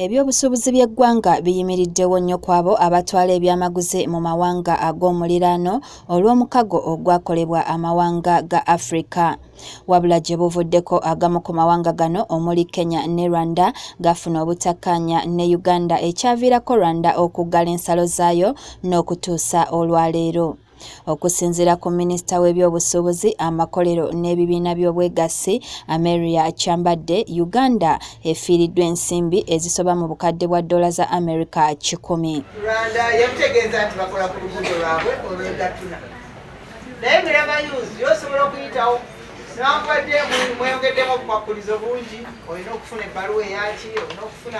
Ebyobusuubuzi by'eggwanga biyimiriddewo nnyo kwabo abatwala ebyamaguzi mu mawanga ag'omuliraano olw'omukago ogwakolebwa amawanga ga Afrika. Wabula gye buvuddeko agamu ku mawanga gano omuli Kenya ne Rwanda gafuna obutakkaanya ne Uganda ekyaviirako Rwanda okuggala ensalo zaayo n'okutuusa olwaleero. okusinzira ku minisita w'ebyobusuubuzi amakolero n'ebibiina by'obwegassi ameria kyambadde uganda efiiriddwa ensimbi ezisoba mu bukadde bwa ddoola za america kikumi naye miramayuzi yosobola okuyitawo newakubadde mweyongeddemu obukwakkulizo bungi olina okufuna ebbaluwa eyaki olina okufuna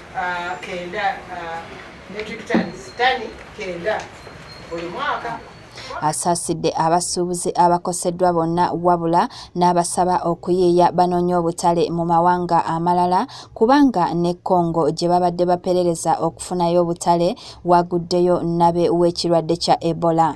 uh, kenda uh, metric tons tani kenda buli mwaka asaasidde abasuubuzi abakoseddwa bonna wabula n'abasaba okuyiiya banoonye obutale mu mawanga amalala kubanga ne congo gye babadde baperereza okufunayo obutale waguddeyo nabe w'ekirwadde kya ebola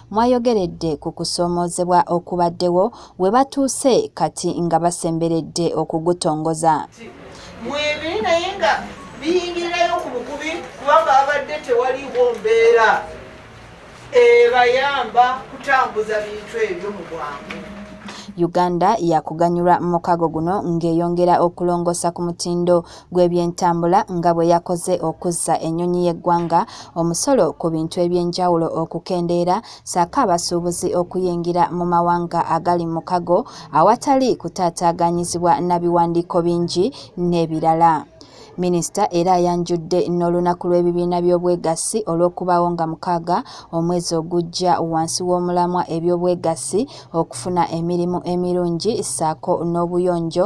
mwayogeredde ku kusoomoozebwa okubaddewo we batuuse kati nga basemberedde okugutongoza mwebiri naye nga biyingirirayo ku bukubi kubanga babadde tewaliwo mbeera ebayamba kutambuza bintu ebyo mu bwangu uganda yakuganyulwa mu mukago guno ng'eyongera okulongoosa ku mutindo gw'ebyentambula nga bwe yakoze okuzza ennyonyi y'eggwanga omusolo ku bintu eby'enjawulo okukendeera saako abasuubuzi okuyingira mu mawanga agali mu kago awatali kutaataaganyizibwa na biwandiiko bingi n'ebirala minisita era ayanjudde n'olunaku lw'ebibiina by'obwegassi olw'okubaawo nga mukaaga omwezi ogujja wansi w'omulamwa eby'obwegassi okufuna emirimu emirungi ssaako n'obuyonjo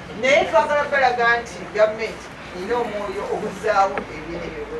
naye twagala balaga nti gavumenti erina omwoyo oguzzaawo ebintu ebyo